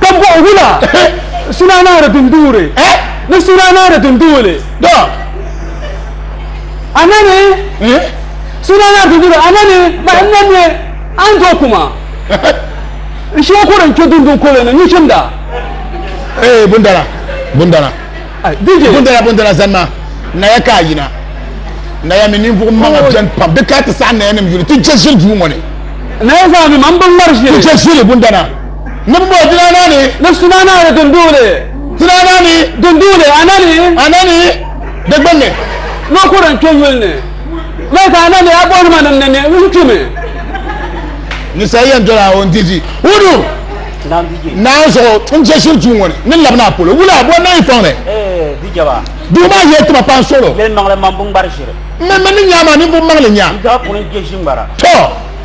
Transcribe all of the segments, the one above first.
Ka bɔhi wula suna naani din duuri ni suna naani din duuli. A nani suna naani din duuri a nani ma n na mi a ni do kuma n shee kuri n kpe dundun kuli ni nuchimda. Ee bundala bundala bundala bundala zanima naya ka a yina naya mi ninvuɣu maŋa bɛni pam di ka ti saɣi naya nim yuli ti je ʒili duu ŋɔ ni. Naya zaa mi ma n bi ŋmari ʒili. Ti je ʒili bundana. Niŋbo dina na ni. Ni suma na ni dunduuli. Dina na ni. Dunduuli a na ni. A na ni di gbunni. Ni kuri n-kpe yuli ni. Mali ka a na ni a buɣinima nim ni ni n-kpi mi. Ninsal yɛn doli a o n-di di. Wuduu naan zuɣu n je shiri duu ŋɔ ni ni labi naa polo. Wula bo nayi fɔŋ ni. Duu maa yɛli tima paŋ suɣilo. Mini mini ni nyaa maa ninvuɣ maŋli nyaa. Tɔ!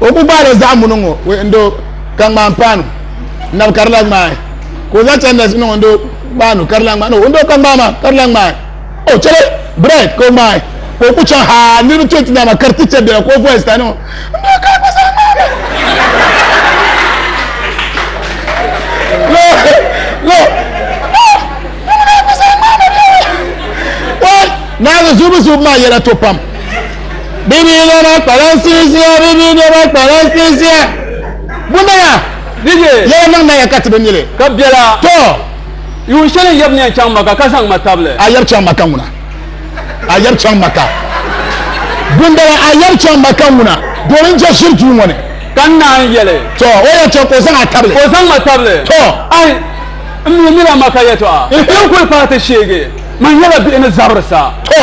o ku gbaala zaɣ muni ŋo ndo ka ŋmaan paanu nabi ka di la ŋmaai ka o zaŋ chandas niŋ ndo paanu ka di la ŋmaai ndo ka ŋmaa maa ka di la ŋmaai o chɛli bread ka o ŋmaai ka o ku chaŋ ha niribi chɛ ti dama ka di ti chɛ biɛla ka o voice ta niŋ ndo ka ku zaŋ ŋmaai naange zuubu zuubu maa yɛla to pam Bibiino maa kpalansi ʒiya, bibiino maa kpalansi ʒiya. Bunaya, yɛli niŋ naya ka ti bi nyili. Ka biɛla, to, yuun shɛli n yab ni yɛn chaŋ Maka ka zaŋ ma tabili. A yab chaŋ Maka ŋuna. A yab chaŋ Maka. Bundala, a yab chaŋ Maka ŋuna, doli n je shiri duu ŋɔ ni. Ka n naan yɛli. To, o yɛn chaŋ ka o zaŋ a tabili. Ka o zaŋ ma tabili. To. Ayi, m mi nila Maka yɛtɔɣa. Ti ni kuli paai ti sheegi, man nyɛla bihi ni zabiri sa. To.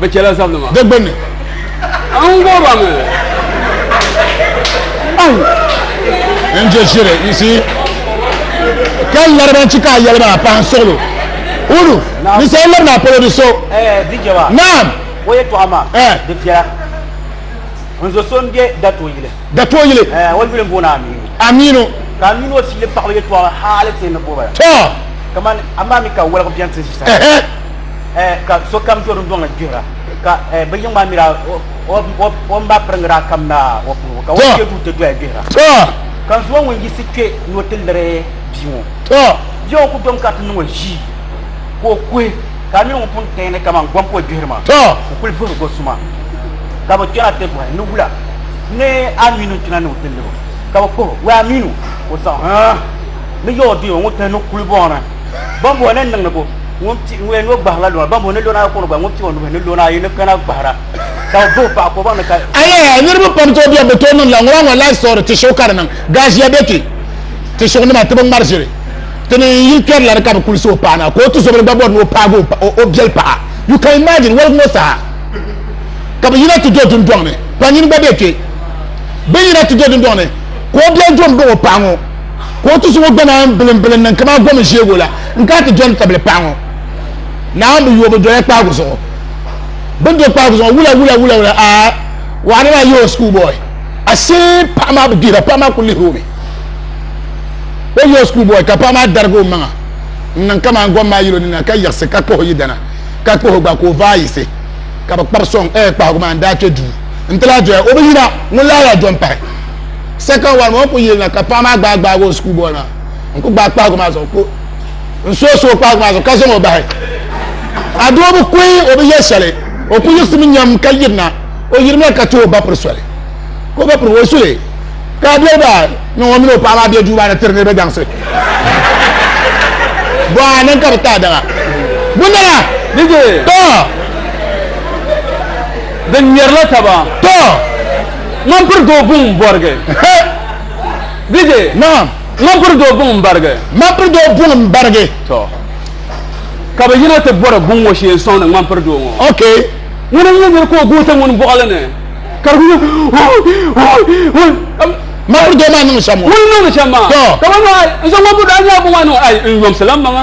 bi chɛla zabinima di gbunni n gɔba mi n je ʒiri you see ka lariba n-chi ka a yɛli maa pahi suɣilo ulu ni sa n-lari ni a polo di so naam o yɛtɔɣa maa di viɛla n zo so n-be datoyili datoyili o yuli m-booni amiinu amiinu ka amiinu o fiili paɣaba yɛtɔɣa haali ti ni bɔba tɔ kamani amaa mi ka wɔligu bɛni ti ʒi sa eh, ka sokam do dundɔŋ ni gbihira ka eh, bi yiŋ maa mira o mba piriŋira kam na o puuni ka o kpe du ti doya gbihira ka zuwa ŋun yisi kpe ni o ti liri bia ŋɔ bia ŋɔ ku dom ka ti niŋ o ʒii ka o kuhi ka a mini ŋun pun tɛni kaman gom ka o gbihiri maa o kuli vuhiri go suma ka bi kpɛna ti bɔhi ni wula ni aminu kpina ni o ti liri ka bi kpuhi wɛ aminu o zaŋ ni yɛ o di o ŋun tɛni ni kuli bɔni Bambo ni niŋdi bo, ŋun o gbahirila lona, bambo ni lona kɔŋɔ gba, ŋun pii o nuhi ni lona ayi ni kana gbahira, ka o buhi paɣa ka o baŋ ni ka. Ayaa! Niriba pam tooi biɛri bi tooi niŋdila ŋɔ maa ŋɔ life story ti shiɣu ka di niŋ gaʒiya be kpe ti shiɣu nima ti bi ŋmari ʒiri ti ni n yili kpɛri la di ka bi kuli so o paɣa na ka o tizobili gba bɔri ni o paagi o biɛli paɣa you can imagine waligu ŋɔ saha ka bi yina ti do dundɔŋ ni kpanyin gba be kpe bin yina ti do dundɔŋ ni ka o biɛli do m baŋ o paɣa ŋɔ ka o tusi ŋɔ gba naan bilimbili n-niŋ kaman gom ʒiɛbo la n-kana ti dɔni tabili paɣa ŋɔ. Naawuni bi yo bi doya kpaagu zuɣu. Bɛ ni do kpaagu zuɣu ŋɔ, wula wula wula wula aa! Waɣani maa yo school boy. Ashee paɣa maa bi dihira, paɣa maa kuli lihiri o mi. O yo school boy ka paɣa maa darigi o maŋa n-niŋ kaman gom maa yil o nina ka yiɣisi ka kpuhi yidana ka kpuhi o gba ka o vaai yiɣisi ka bɛ kpabi sɔŋ. Ɛɛ kpahigu maa n-daa kpe duu n-ti lahi doya o bi yina ŋun lahi yaa dɔni pahi. second one ŋun ku yilina ka paɣa maa gbaai gbaagi o school boy maa n ku gbaai kpaagu maa zuɣu ko n so so kpaagu maa zuɣu ka zaŋ o bahi a doo bi kuhi o bi yɛ shɛli o ku yiɣisimi nyam ka yirina o yirimina ka ti o ba piri soli ka o ba piri o suli ka a doli ba niŋ o mini o paɣa maa bɛ duu maa ni tiri niriba daŋsi bɔha niŋ ka bi taai daŋa bundana to din ŋmɛrila taba to Ŋman piri doo buŋ m bɔrigi. He! DJ, Naam. ŋman piri doo buŋ m barigi. Ŋman piri doo buŋ m barigi. Tɔ! Ka bɛ yina ti bɔri buŋ ŋɔ shee n-sɔŋdi ŋman piri doo ŋɔ. Okay. Ŋuni n-nyɛ nir ka o guui ti ŋuni buɣili ni, ka di kuli nyɛ hoo-hoo-hoo-hoo. Ŋman piri doo maa niŋdi shɛm maa. Ŋuni n-niŋdi shɛm maa? Tɔ! Ka ban niŋ, ai, n-zaŋ ŋman piri doo, a ni nya buŋ maa ni ŋɔ, ai, n yomsi la m maŋa.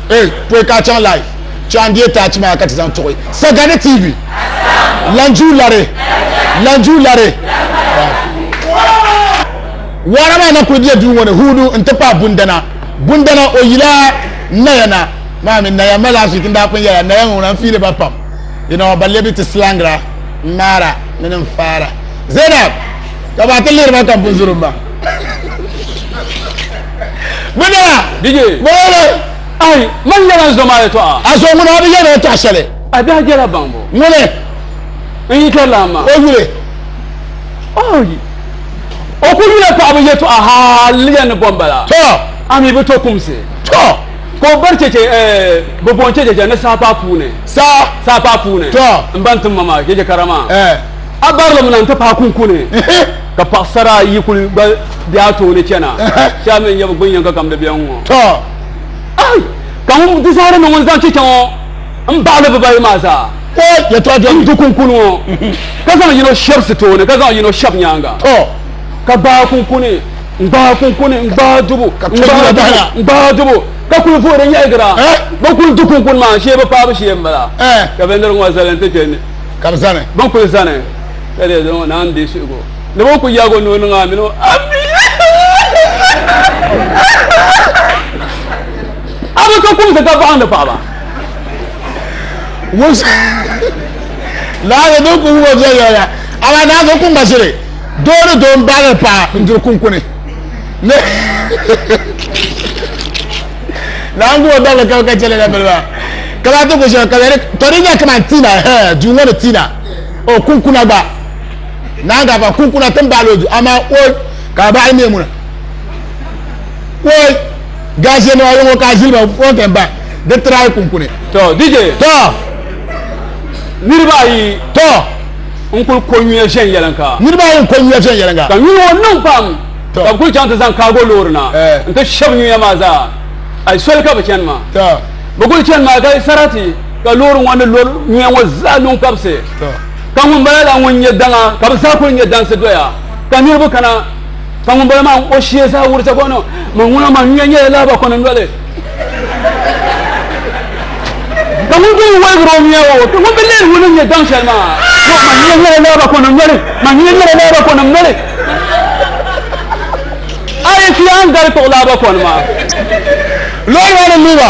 E pɔi ka a chaŋ live chɛ a ni di taach maa ka ti zaŋ tuɣi Sagani TV Lanjuu lari Lanjuu lari Waara maa na kuli bɛ duu ŋɔ ni huudu n ti pahi Bundana Bundana o yila Naya na maa mi Naya mali afik n daa pun yɛla Naya ŋɔ na n fiili ba pam you know ba lebi ti slangra n ŋmaara mini n faara Zainab ka ba ti lihiri ba ka n pun zuri m ma Gbinna! Dije! Boole! Ayi, man yɛla n zoma yɛtɔɣa. A zo ŋuna bi yɛn yɛtɔɣa shɛli. A biɛhi jɛla baŋbu. Ŋuni? N yi kari lan maa. O yuli. Ayi, o ku yula paɣaba yɛtɔɣa hal yɛn ni bɔn bala. To! A mi bi to kumsi. To! Ka o bari chɛchɛ, eh, bi boon chɛ chɛchɛ ni saha paai puuni. Saha? Saha paai puuni. To! N ba n tim ma maa chɛchɛ kara maa. Eh. A bari li mi na n ti paai kunkuni. Ka paɣasara ayi kuli gba be a tooni chana, shɛba mi n-nyɛ bɛ gbunyɛŋga kam di bɛn ŋ-ŋɔ. Tɔ! Ai! Ka ŋun di zaɣiri ni ŋun zaŋ chicha ŋɔ m-baɣi li bibayi maa zaa. Tɔ! Yɛtɔɣa dɔmi. N du kunkuni ŋɔ, ka zaŋ yino shɛbi sitoo ni, ka zaŋ yino shɛbi nyaaŋa. Tɔ! Ka gbaai kunkuni, n-gbaai kunkuni, n-gbaai dubu, n-gbaai dubu, n-gbaai dubu, ka kuli vuhi di nyɛhigira. Bɛ kuli du kunkuni maa n-sheei bɛ paai bɛ shee m-bala. Ka bɛ niriŋ ŋɔ zali n-ti kpe ni. Ka bɛ zani. Bɛ ni kuli zani. Ka di zaŋ naan bɛ suhigu ni bɛ ku yaag o noo niŋ a mini o ammi. A bi ka kumsi ka baɣindi paɣaba. Laɣiri din ku wubo viɛnyɛliŋga amaa naan so ku ŋmasiri doo ni doo m-baɣilir paɣa n-diri kunkuni. Naan ku o dabili ka bi ka chɛli na biliba ka lahi ti ku shɛba ka bɛ ni tɔ di nya kaman Tina, hee, duu ŋɔ ni Tina. o kunkuna gba naan ka ban kunkuna tin baali o du amaa oi ka baali mie muna oi gaashe nima yɔŋɔ ka ziliba o kɛn ba di tiraai kunkuni to dj to niriba ayi to n kuli ko nyuya viɛn yɛlinka niriba ayi n ko nyuya viɛn yɛlinka ka nyuya ŋɔ niŋ pam ka bi kuli chaŋ ti zaŋ kaago loori na eh. n ti shɛbi nyuya maa zaa ayi soli ka bi chani maa bi kuli chani maa ka sarati ka loori ŋɔ ni lori nyuya ŋɔ zaa niŋ kabisi ka ŋunbala la ŋun nyɛ daŋa ka bi zaa kuli nyɛ dansi doya ka niriba kana ka ŋunbala maa o shee zaa wurisa ka no man ŋuna man nyuya nyɛla laaba kɔni noli ka ŋun bɛ wɔlgiri o nyuya o ka ŋun bɛ lihiri ŋuni nyɛ daŋ shɛli maa man nyuya nyɛla laaba kɔni noli man nyuya nyɛla laaba kɔni noli a yi fi an gari tuɣi laaba kɔni maa loori maa ni luba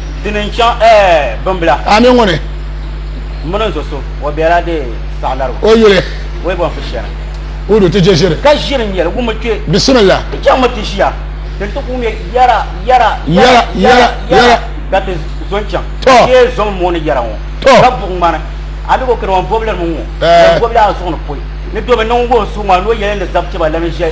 Dini n chaŋ ɛɛ bimbila. Ami ŋuni. Mini n zo so o bela de saɣilarigu. O yuli. Wei bɔn fi shɛli. Hudu ti je ʒiri. Ka ʒiri n yɛli wumi kpe. Bisimila. Ti chaŋ mi ti ʒiya ti ni ti kuli ŋmɛ yara yara yara yara yara ka ti zo n chaŋ. Ti yee zo mi mooni yara ŋɔ ka buɣi ŋmani. A mi ka o kani wan bɔbili mi ŋɔ. Wan bɔbili a zuɣu ni poi ni domi niŋ ŋɔ suŋ maa ni o yɛli ni zab chɛba lana ʒe.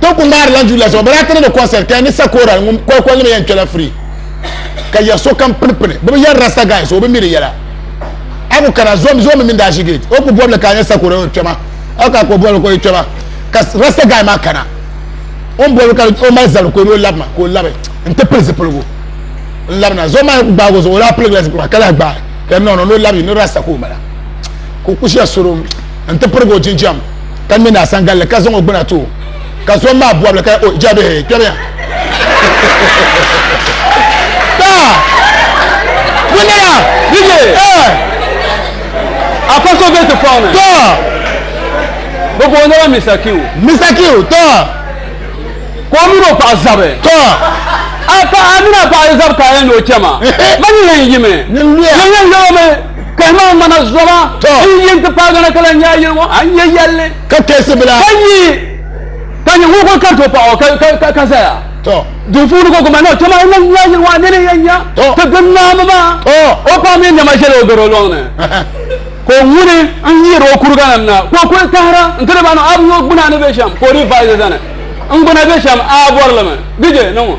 Ti ku ŋmaari lan Julius ŋɔ bala ti ni di concert ka ya ni Sakora ŋun kɔlikɔlinima yɛn kpɛla free ka ya sokam pini pini bɛ bi yɛri rasta guy so o bi mi di yɛla a ku kana zomi zomi mini daashi gate o ku bɔbili ka a nya Sakora o kpɛma a ku ka ka o bɔbili ka o yi kpɛma ka rasta guy maa kana o ni bɔbi ka o mali zabiri ka o ni o labi ma ka o labi n ti pili zipiligu n labina zomi maa ku gbaagi o zuɣu o daa piligila zipiligu maa ka lahi gbaai ka ya mi niŋ ni o labi ni rasta ka o mala ka o ku shia soro n ti pirigi o jinjɛm ka ŋmɛ ni asangalli ka zaŋ o gbuna too ka zom maa bɔbili ka o jabihi kpɛmiya wunira dj afa so bɛ ti fɔŋ ni bi boonila misa kiw misa kiw tɔ ka o mini o paɣa zabi tɔ a paɣa mini a paɣa zabi ka a yɛn ni o chɛma ma ni yɛn yimi yɛn yɛn yɛlimi Kahima ŋmana zoma n yi ti paagi na ka lahi nyaai yili ŋɔ, a ni nya yɛlli. Ka kpɛhisi bila. Ka nyi, ka nyi ŋun kuli kariti o paɣa o, ka, ka, ka zaya. Duu puuni ka o guma ni o chɛma o lahi nyaai yili ŋɔ, a nini yɛn nya ti gbini naanba maa. O paɣa mini nɛma ʒela o garo lɔŋni, ka o ŋuni n yiiri o kuriganim na, ka o kuli kahira nti di ba niŋ, a bi nya o gbuna ni be shɛm, ka o dii vaazi zani, N gbuna be shɛm, a bɔri li mi? Di je, niŋ o.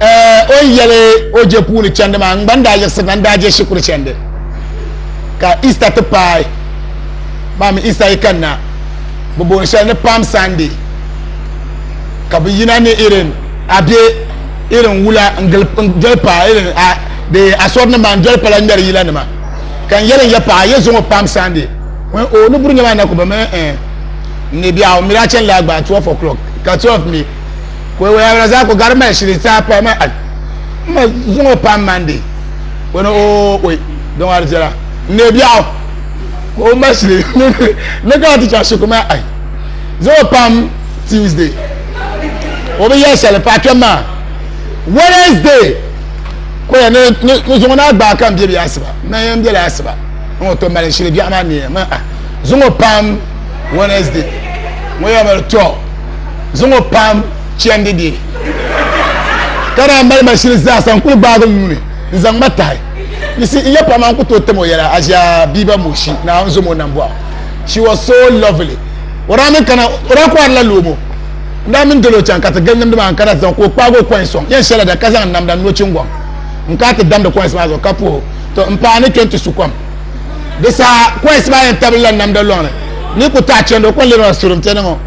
O ni yɛli o je puuni chandi maa, n gba n daa yiɣisiri na n-daa je shikuru chandi. Ka Easter ti paai maa mi Easter yi kani na, bɛ booni shɛli ni Palm Sunday, ka bɛ yina ni irin a be irin wula n-doli paɣa irin a di asɔri nim maa n-doli pala ŋmɛri yila nima. Ka n yɛli n ya paɣa, yi zaŋɔ Palm Sunday? O ni o ni buri nyɛ maa na ku bɛ mi eh, n ni biɛɣu mi daa chani laa gbaai 12 o'clock, ka 12 mi. Ko waya wala zaa ko gari mali shili saa pa ma al. Ma zuŋo pam mandi. Ko ni o oi don ar zela. Ne biaɣu. Ko o ma shili ne ka ti cha shi ko ma ai. Zuŋo pam Tuesday. O bi ya shali pa kpem ma. Wednesday. Ko ya ni ni zuŋo na gba kan biebi asiba. Ma yan bela asiba. Ngo to mali shili biaɣu ma ne ma ah. Zuŋo pam Wednesday. Ngo ya mali to. zaŋ o paam chɛndi di ka daa mali ma shili zaasa n kuli gbaagi n nuuni n zaŋ ma tahi you see n ya paɣa maa n ku tooi tam o yɛla Ajia Biba Moshi naa n zom o nam bɔɣu she was so lovely o daa mini kana o daa kɔhirila loomo n daa mini dolo chaŋ ka ti gili nimdi maa n kana ti zaŋ ka o kpaagi o kɔin sɔŋ yɛn shɛla da ka zaŋ namda n no chingɔŋ n ka ti damdi kɔins maa zuɣu ka puhi to n paai ni kenti su kom di saa kɔins maa yɛn tabili la namda lɔŋni ni ku taɣi chɛndi o kɔn lirila surim piɛni ŋɔ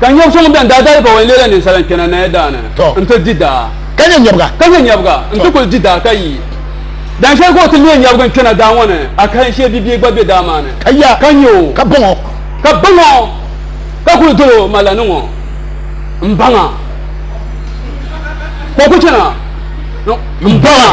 Ka nyɛb so ŋun bɛn daa dali bawali leela ninsala n-kpɛna Naya daa ni n-ti di daa. Ka nyɛ nyɛbiga. Ka nyɛ nyɛbiga n-ti kuli di daa ka yi. Dahin shɛli ka o ti leei nyɛbiga n-kpɛna daa ŋɔ ni, akahinshee bibia gba be daa maa ni, ka ya, ka nya o, ka baŋ o, ka baŋ o, ka kuli dol o, Malla ni ŋɔ m-baŋ a, ka o kuli chana ni m-baŋ a.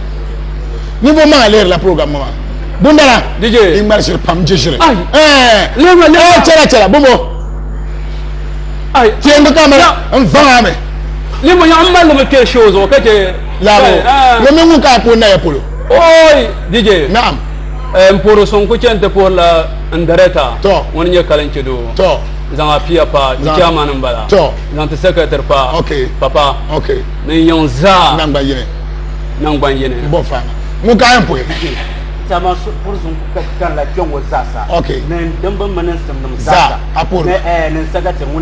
ninvuɣu maa lihirila program ŋɔ maa bundala i ŋmarisiri pam n chɛshiri chɛla chɛla bumbo tiɛngi ka mali n vaŋa mi ninvuɣu yaɣa n mali mi kpɛ shoo zuɣu ka chɛ laabo ŋɔ mini ŋun ka ko naya polo oi dj naam n puhiri so n ku chɛni ti puhirila n dɛrɛta ŋuni nyɛ kalin chɛ doo zaŋ apiya pa n chairman n bala zaŋ ti secretary pa papa ni n yiŋ zaa Nangbanyini. Bɔ fa. Ŋun ka yɛn puhi. Tɛma puri zuŋ ka kanila kpɛŋɔ zaasa. Ok. Ni dimba mini n simnim zaasa. Zaa a puhi. Ni n sagati ŋuni.